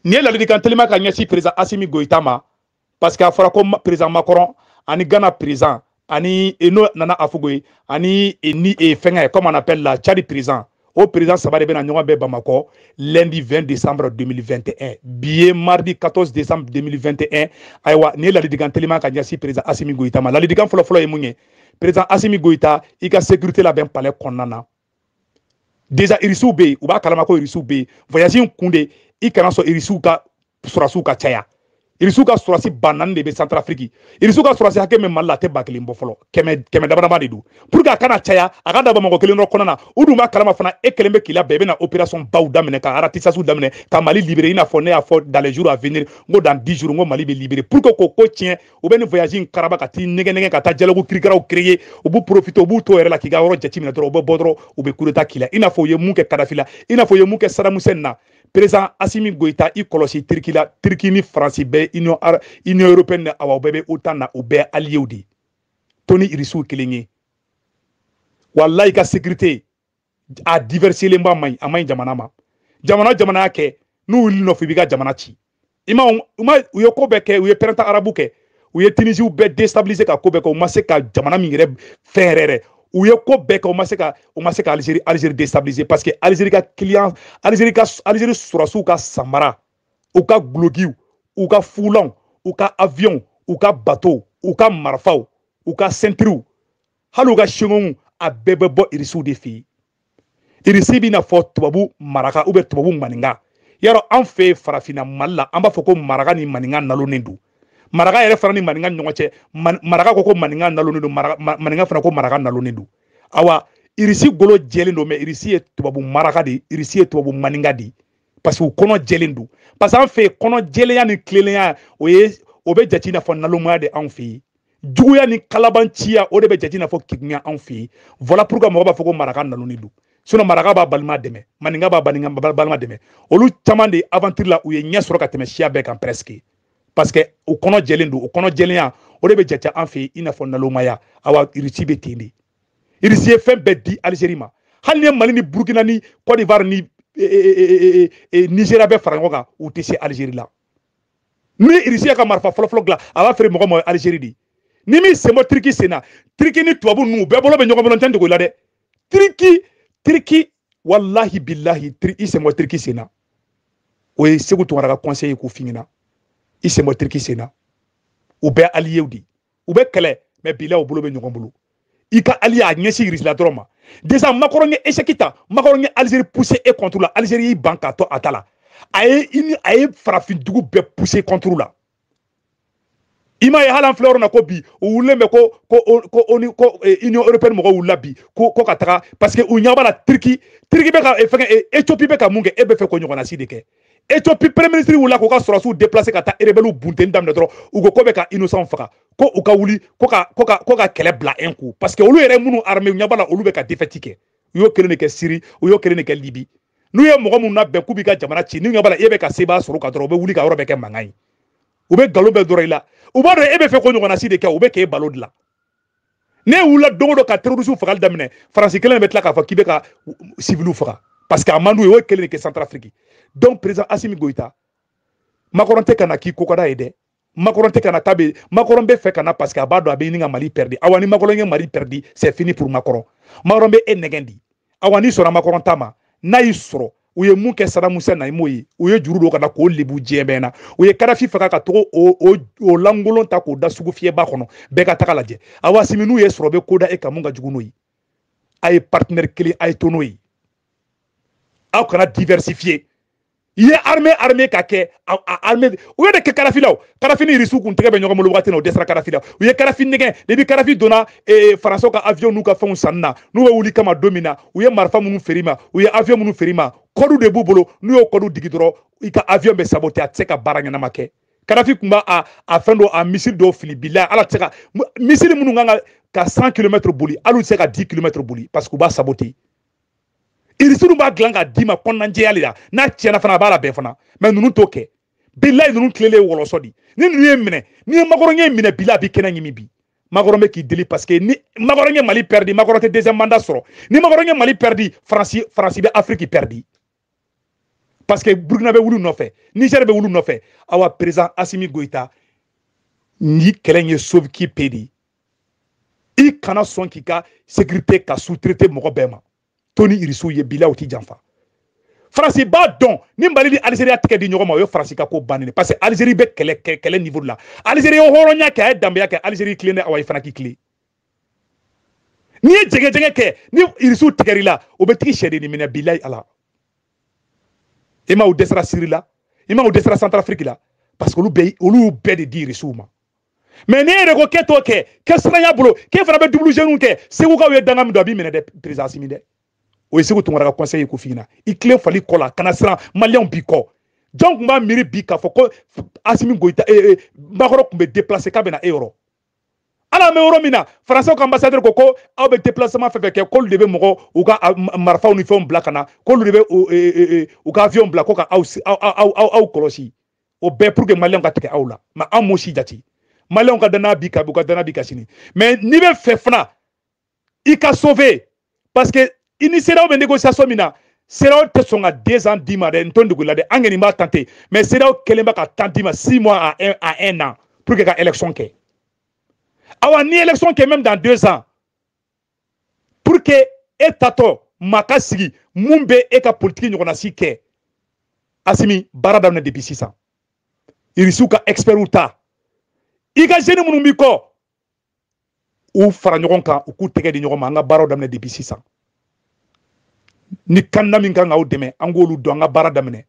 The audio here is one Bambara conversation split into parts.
nin ye ladilikan telima ka ɲɛsin perezan asimi goyita ma parce que a fɔra ko perezan makɔrɔn ani gana perezan ani e, n'o nana afugo ye ani e, ni e, fɛngɛ comme on appelle la cadi perezan o perezan saba de bɛna ɲɔgɔn bɛn bamakɔ lundi 20 décembre 2021 bi ye mardi 14 décembre 2021 ayiwa nin ye ladilikan telima ka ɲɛsin perezan asimi goyita ma ladilikan fɔlɔfɔlɔ ye mun ye perezan asimi goyita i ka sécurité labɛn palais kɔnɔna na déjà irisiw bɛ yen u b'a kalama ko irisiw bɛ yen voyage in kun de i kana sɔn irisiw ka sɔrɔsiw ka caya irisiw ka sɔrɔsi ba naani de bɛ santarafiriki irisiw ka sɔrɔsi hakɛ min mali la a tɛ ba kelen bɔ fɔlɔ kɛmɛ kɛmɛ damadama de don pour que a kana caya a ka dan bamakɔ kelen dɔrɔn kɔnɔna na u dun b'a kalama fana e kɛlen bɛ k'i labɛn i bɛna opération baw daminɛ ka aratisasiw daminɛ ka mali libere i n'a fɔ ne y'a fɔ dans les jours à venir n ko dans dix jours n ko mali bɛ libere pour que k'o ko tiɲɛ u bɛ nin voyage in karaba ka t'i nɛgɛn nɛgɛn ka taa dialogue kirikaraw créer u b'u profiter u b'u to yɛrɛ la k'i ka yɔrɔ jateminɛ dɔrɔn u bɛ bɔ dɔrɔn u bɛ coup d'état k'i la i n'a fɔ u ye mun kɛ Kadhafi la i n'a fɔ u ye mun kɛ Saddam Hussein na président Assimi Goïta i kɔlɔsi Turquie la Turquie ni France bɛɛ Union Union européenne awa u bɛɛ bɛ OTAN na u bɛɛ alliés de ye to ni Irisiw kelen ye walayi i ka sécurité a diversifielenba man ɲi a man ɲi jamana ma jamana jamana y'a kɛ n'u wul'i nɔfɛ u b'i ka jamana ci i ma u ma u ye ko bɛɛ kɛ u ye printemps arabe kɛ u ye tinisiw bɛɛ destabilise ka ko bɛɛ kɛ u ma se ka jamana min yɛrɛ fɛn yɛrɛyɛrɛ u ye ko bɛɛ kɛ u ma se ka u ma se ka alizeri alizeri destabilise parce que alizeri ka kiliyan alizeri ka alizeri sɔrɔsiw ka samara u ka gulokiw u ka fulanw u ka aviyɔnw u ka batow u ka marifaw u ka sentiriw hali u ka singɔmu a bɛɛ bɛ bɔ irisiw de fɛ yen irisi b'i n'a fɔ tubabu maraka ou bien tubabu maninka yɔrɔ an fɛ yen farafinna mali la an b'a fɔ ko maraka ni maninka nalonnen don maraka yɛrɛ fana ni maninka ni ɲɔgɔn cɛ maraka ko ko maninka nalonnen don maninka fana ko maraka nalonnen don awa irisi golo jɛlen don mɛ irisi ye tubabu maraka de ye irisi ye tubabu maninka de ye parce que u kɔnɔ jɛlen don parce que an fɛ yen kɔnɔ jɛlenya ni tilelenya o ye o bɛ jate i n'a fɔ nalonmaya de anw fɛ yen juguya ni kalabanciya o de bɛ jate i n'a fɔ kegunya anw fɛ yen voilà pourquoi mɔgɔ b'a fɔ ko maraka nalonnen don sinon maraka b'a balima dɛmɛ maninka b'a maninka balima dɛmɛ olu caman de aventure la u ye ɲɛ sɔrɔ ka tɛmɛ siya bɛɛ kan presque parce que u kɔnɔ jɛlen don u kɔnɔ jɛlenya o de bɛ jate an fɛ yen i n'a fɔ nalomaya awa irisi bɛ ten de irisi ye fɛn bɛɛ di alizeri ma hali n'i ye mali ni burukina ni cote d'ivoire ni e, e, e, nizeriya bɛɛ fara ɲɔgɔn kan u tɛ se alizeri la ni irisi y'a ka marifa fɔlɔfɔlɔ dilan a b'a feere mɔgɔ ma alizeri de ni min sen bɔ tiriki sen na tiriki ni tubabu ninnu bɛɛ bolo bɛ ɲɔgɔn bolo n t'a dogo i la dɛ tiriki tiriki walahi bilahi i sen bɔ tiriki sen na o ye segu tunkara ka conseil ye k'o f'i ɲɛna i sen bɔ tiriki sen na u bɛɛ aliyew de u bɛ kɛlɛ mɛ bila u bolo bɛ ɲɔgɔn bolo i ka allié ɲɛsin irisila dɔrɔn ma déjà makɔrɔn ye esɛki ta makɔrɔn ye alizeri puse e kɔnturu la alizeri y'i ban k'a to a ta la a ye i ni a ye farafin dugu bɛɛ puse kɔnturu la i m'a ye hali an filɛ yɔrɔ na ko bi u wulilen bɛ ko ko ko oni ko eh, union européenne mɔgɔw wulila bi ko ko ka taga parce que u ɲɛ b'a la turki turki bɛ ka eh, fɛngɛ eh, ethiopie bɛ ka mun kɛ e bɛ fɛ k'o ɲɔgɔnna si de kɛ ethiopie premier ministre wulila k'u ka sɔrɔsiw déplacer ka taa rebelle bunteni daminɛ dɔrɔn u ko k'u bɛ ka innocent faga ko u ka wuli ko ka ko ka ko ka kɛlɛ bila un coup parce que olu yɛrɛ minnu armer u ɲɛ b'a la olu bɛ ka défaite kɛ u y'o kelen de kɛ Syrie u y'o kelen de kɛ Libye n'u ye mɔgɔ minnu labɛn k'u b'i ka jamana ci n'u ɲɛ b'a la e bɛ ka seba sɔrɔ u kan dɔrɔn u bɛ wuli ka yɔrɔ bɛɛ kɛ mankan ye u bɛ nkalon bɛɛ nɔrɔ i la u b'a dɔn e bɛ fɛ k'o ɲɔgɔnna si de kɛ u bɛ k'e bal'o de la n'e wulila don o don ka terrorisiw fagali daminɛ faransi kelen bɛ tila k'a fɔ k'i bɛ ka siviliw faga parce que a man d'u ye u y'o kelen de kɛ santarafiriki donc président asimi goyita makɔrɔn tɛ ka na k'i ko ka d'a ye dɛ makɔrɔn tɛ ka na k'a bɛ makɔrɔn bɛ fɛ ka na parce que a b'a dɔn a bɛ ɲini ka mali pɛridi awa ni makɔrɔn ye mali pɛridi c'est fini pour makɔrɔn makɔrɔn bɛ e nɛgɛn de awa n'i sɔnna makɔrɔn ta ma n'a y'i sɔrɔ u ye mun kɛ saddam hussein na i m'o ye u ye juru don a kan na k'o lebu diɲɛ bɛɛ ɲɛ na u ye kadafi faga ka taga o lankolon ta k'o da sugufiyɛba kɔnɔ bɛɛ ka taga lajɛ awa asimi n'u y'e sɔrɔ u bɛ ko da e kan min ka jugu n'o ye a ye partenaire kelen a ye to n'o ye aw kana diversifier i ye armée armée ka kɛ armée u y'o de kɛ kadafi la kadafi ni irisiw kun tɛgɛ bɛ ɲɔgɔn bolo wagati na u dɛsɛra kadafi la u ye kadafi nɛgɛn depi kadafi donna eh, faransɛw ka avion n'u ka fɛnw sanni na n'u bɛ wuli i kama don min na u ye marifa minnu feere i ma u ye avion minnu feere i ma kɔdu de b'u bolo n'u y'o kɔdu digi dɔrɔn i ka avion bɛ sabote a tɛ se ka baara ɲɛnama kɛ kadafi tun b'a a a fɛn dɔ a missile dɔw fili bila ala tɛ se ka missile minnu kan ka ka 100 kilomɛtiri boli hali u tɛ se ka 10 kilomɛtiri boli parce que u b'a sabote irisiw b'a dilan k'a d'i ma kɔnɔnajɛya de la n'a tiɲɛna fana a b'a labɛn fana mɛ ninnu t'o kɛ bilayi ninnu tilelen ye wɔlɔsɔ di ni ninnu y'e minɛ n'i ye makɔrɔn y'e minɛ bila a b'i kɛnɛ ɲimi bi makɔrɔn bɛ k'i deli parce que ni makɔrɔn ye mali pɛridi makɔrɔn tɛ deuxième mandat sɔrɔ ni makɔrɔn ye mali pɛridi faransi faransi bɛ afiriki pɛridi parce que burukina bɛ wul'u nɔfɛ nizɛri bɛ wul'u nɔfɛ awa président asimi goyita nin kɛlɛ in ye sauve qui peut de ye i kana sɔn k'i ka sekirite ka sous-traiter mɔgɔ bɛɛ ma to ni irisiw ye bila u t'i janfa faransi b'a dɔn ni mali ni alizeri y'a tɛgɛ di ɲɔgɔn ma o ye faransi ka ko bannen parce que alizeri bɛ kɛlɛ kɛlɛ niveau de la alizeri ye hɔrɔnya kɛ a ye danbeya kɛ alizeri tilen dɛ awa i fana k'i tilen n'i ye jɛgɛjɛgɛ kɛ ni irisiw tigɛr'i la u bɛ tag'i sɛdennin minɛ bilayi ala i ma u dɛsɛra siri la i ma u dɛsɛra santarafiriki la parce que olu bɛɛ olu y'u bɛɛ de di irisiw ma mais ne yɛrɛ ko k'e t'o kɛ kɛ siranya bolo k'e fana bɛ double jeu ninnu kɛ segukaw ye danga min don a b'i minɛ dɛ président asimi dɛ o ye seku tunkara ka conseil ye k'o f'i ɲɛna i tilen fali kɔ la kana siran maliyɛnw b'i kɔ jɔn tun b'a miiri bi k'a fɔ ko asimi goyita ee eh, eh, makɔrɔ tun bɛ déplacer k'a bɛna e yɔrɔ hali an bɛ yɔrɔ min na faransɛw ka ambassadeur ko ko aw bɛ déplacement fɛn fɛn kɛ k'olu de bɛ mɔgɔ u ka marifaw ni fɛnw bila ka na k'olu de bɛ u ka avion bila ko ka aw aw aw aw kɔlɔsi o bɛɛ pour que maliyɛnw ka tigɛ aw la mais an m'o si jate maliyɛnw ka danaya b'i kan bi u ka danaya b'i kan sini mais n'i bɛ fɛ fana i ka sauver parce que i ni CEDEAO bɛ négociation min na CEDEAO tɛ sɔn ka deux ans d'i ma dɛ n to dugu la dɛ an kɔni b'a tenter mais CEDEAO kɛlen bɛ ka temps d'i ma six mois à un à un an pour que ka élection kɛ awa ni élection kɛ même dans deux ans pour que e tatɔ maa ka sigi min bɛ e ka politiki ɲɔgɔnna si kɛ asimi baara daminɛ depuis sisan irisiw ka expertw ta i ka jeune minnu b'i kɔ u fara ɲɔgɔn kan u k'u tɛgɛ di ɲɔgɔn ma an ka baaraw daminɛ depuis sisan ni candidat min kan k'aw dɛmɛ an k'olu dɔn an ka baara daminɛ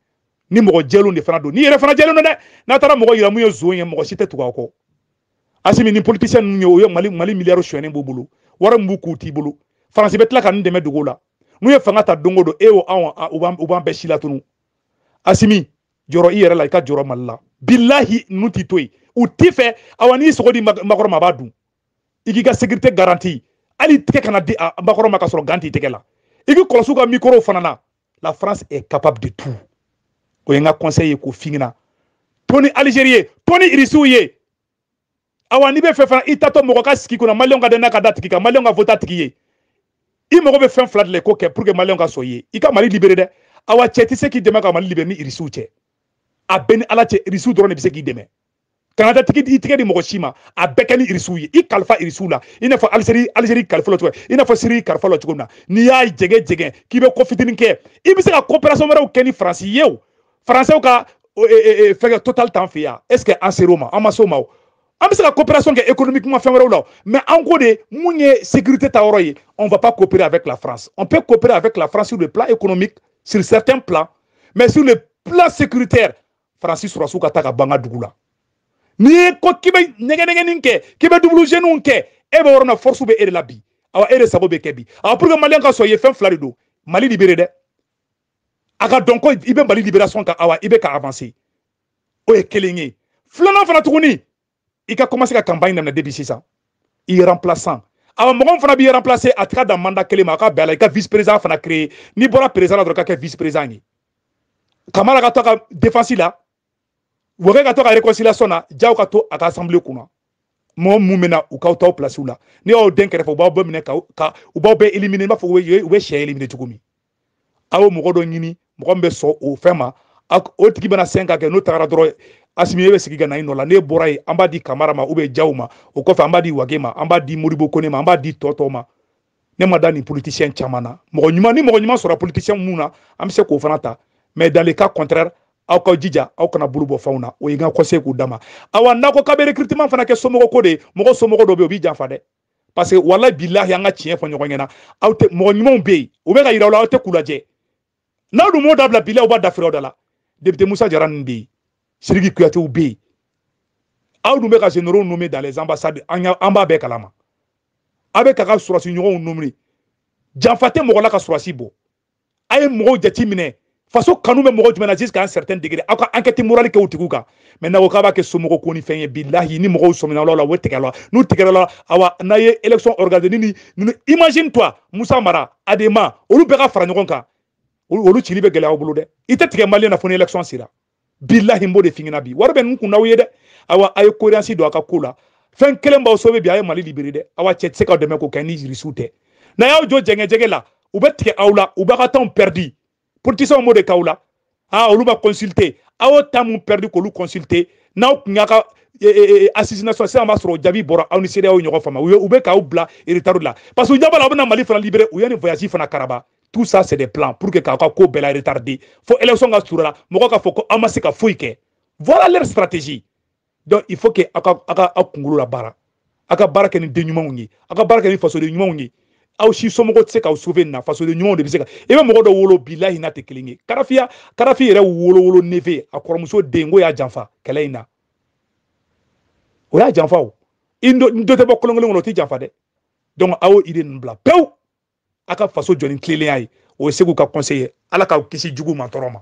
ni mɔgɔ jɛlenw de fana don n'i yɛrɛ fana jɛlen don dɛ n'a taara mɔgɔ yira min ye zon ye mɔgɔ si tɛ tugu aw kɔ asimi ni politisiyɛn ninnu ye o ye mali mali miliyari sonyɛnen b'u bolo wari min b'u kun o t'i bolo faransi bɛ tila ka nin dɛmɛ dogo la n'u ye fanga ta don o don e o anw u b'an bɛɛ silatunu asimi jɔrɔ i yɛrɛ la i ka jɔrɔ mali la bilahi ninnu t'i to yen u t'i fɛ awa n'i sogo di makɔrɔ ma a b'a dun i k'i ka sekirite garanti hali tɛgɛ kana di makɔrɔ ma ka sɔrɔ gant t'i tɛgɛ la i k'i kɔlɔsi u ka mikorow fana na la france est capable de tout o ye n ka conseil ye k'o f'i ɲɛna to ni algérie ye to ni irisiw ye awa n'i bɛ fɛ fana i tatɔ mɔgɔ ka sigi kunna maliyɛnw ka danaya ka d'a tigi kan maliyɛnw ka vote a tigi ye i mago bɛ fɛn fila de la i k'o kɛ pour que maliyɛnw ka sɔn i ye i ka mali libere dɛ awa cɛ tɛ se k'i dɛmɛ ka mali libere ni irisiw cɛ a bɛɛ ni ala cɛ irisiw dɔrɔn de bɛ se k'i dɛmɛ kana taa tigi i tɛgɛ di mɔgɔ si ma a bɛɛ kɛ ni irisiw ye i kalifa irisiw la i n'a fɔ alizeri alizeri kalifa la cogo i n'a fɔ siri kalifa la cogo min na n'i y'a jɛgɛ jɛgɛ k'i bɛ ko fitinin kɛ i bɛ se ka coopération wɛrɛw kɛ ni faransi ye o faransɛw ka fɛngɛ total t'an fɛ yan est ce que an ser'o ma an ma s'o ma o an bɛ se ka coopération kɛ économiquement fɛn wɛrɛw la mais an ko de mun ye sécurité ta yɔrɔ ye on va pas coopérer avec la France on peut coopérer avec la France sur le plan économique sur certains plans mais sur le plan sécuritaire faransi sɔrɔdasiw ka taa ka b'an ka dugu la n'i ye ko k'i bɛ nɛgɛnɛgɛnin kɛ k'i bɛ double jeu ninnu kɛ e bɛ yɔrɔ na force bɛ e de la bi awa e de sago bɛ kɛ bi awa pour que maliyɛn ka sɔn i ye fɛn fila de don mali libere dɛ a ka dɔn ko i bɛ mali libération kan awa i bɛ ka avancer o ye kelen ye filanan fana tuguni i ka commencer ka campagne daminɛ depuis sisan i remplaçant awa mɔgɔ min fana b'i remplacer a tɛ dan mandat kelen ma a ka bɛn a la i ka vice président fana créer n'i bɔra président la dɔrɔn ka kɛ vice président ye kamara ka to a ka défense la wage ka to ka réconciliation na jaw ka to a ka assemblée kunna mɔgɔ min bɛ na u k'aw t'aw place la n'u y'aw don kɛrɛfɛ u b'aw bɛɛ minɛ ka u b'aw bɛɛ éliminer i b'a fɔ u bɛ sɛ éliminer cogo min aw ye mɔgɔ dɔ ɲini mɔgɔ min bɛ sɔn o fɛn ma o tigi bɛna cinq ans kɛ n'o tagara dɔrɔn asimi e bɛ sigi ka na i nɔ la n'e bɔra yen an b'a di kamara ma ou bien jaw ma o kɔfɛ an b'a di wage ma an b'a di modibo kone ma an b'a di tɔ tɔw ma ne ma da nin politisiyɛn caman na mɔgɔ ɲuman ni mɔgɔ ɲuman sɔrɔ politisiyɛn minnu na an bɛ se k'o fana ta mais dans le cas contraire aw ka jija aw kana bolo bɔ fɛnw na o ye n ka conseil k'o d'a ma awa n'a ko k'a bɛ recrutement fana kɛ somɔgɔ ko de ye mɔgɔ somɔgɔ dɔ bɛ yen o b'i janfa dɛ parce que walahi bilahi an ka tiɲɛ fɔ ɲɔgɔn ɲɛna aw tɛ mɔgɔ ɲumanw bɛ yen u bɛ k'a yira aw la aw tɛ k'u lajɛ n'aw dun m'o dabila bilahi u b'a dafiri aw da la député musa jara ninnu bɛ yen siriki kuyatew bɛ yen aw dun bɛ ka généraux nommer dans les ambassades an b'a bɛɛ kalama aw bɛ k'aw ka sɔrɔdasi ɲɔgɔnw nommer janfa tɛ mɔgɔ la ka sɔrɔdasi bɔ a ye mɔgɔw jate minɛ faso kanu bɛ mɔgɔ jumɛn na jusqu'à un certain degré aw ka enquête morale kɛ o tigiw kan mais n'a ko k'a b'a kɛ somɔgɔ ko ni fɛn ye bilahi ni mɔgɔw sɔmina aw la o la u bɛ tigɛ aw la n'u tigɛra aw la awa n'a ye élection organiser ni ni ni imagine toi Musa Mara Adema olu bɛɛ ka fara ɲɔgɔn kan olu cili bɛ gɛlɛya aw bolo dɛ i tɛ tigɛ maliyɛn na fo ni élection sera bilahi n b'o de f'i ɲɛna bi wari bɛ ninnu kun n'aw ye dɛ awa a ye cohérence don a ka ko la fɛn kelen b'aw sauver bi a ye mali libérer dɛ awa cɛ tɛ se k'aw dɛmɛ k'o kɛ ni irisiw tɛ n'a y'aw jɔ jɛngɛjɛgɛ la u bɛ tigɛ aw la u b'a ka temps perdi politisiyɛnw b'o de k'aw la aa olu b'a consulter aw ye temps min perdi k'olu consulter n'aw tun y'a ka e, e, e, assises nationales sisan b'a sɔrɔ o jaabi bɔra aw ni CEDEAO ɲɔgɔn faamu u bɛ k'aw bila retard la parce que u ɲɛ b'a la aw bɛna mali fana libérer u ye nin voyage fana karaba tout ça c'est des plans pour que k'aw ka ko bɛɛ la retarder fo élection ka surun la mɔgɔ k'a fɔ ko a ma se ka foyi kɛ voilà leur stratégie donc il faut que aw ka aw ka aw kunkolo la baara aw ka baara kɛ ni den ɲumanw ye aw ka baara kɛ ni fasoden ɲumanw ye aw si somɔgɔ tɛ se k'aw sauver nin na fasoden ɲumanw de bɛ se ka i bɛ mɔgɔ dɔ wolo bilahi n'a tɛ kelen ye kadafi ya kadafi yɛrɛ wolo wolo neveu a kɔrɔmuso den k'o y'a janfa kɛlɛ in na o y'a janfa o i dɔ tɛ bɔ kolon kelen kɔnɔ o tɛ janfa dɛ donc aw y'o idée ninnu bila pewu a ka faso jɔ ni tilennenya ye o ye seku ka conseil ye ala k'aw kisi juguman tɔɔrɔ ma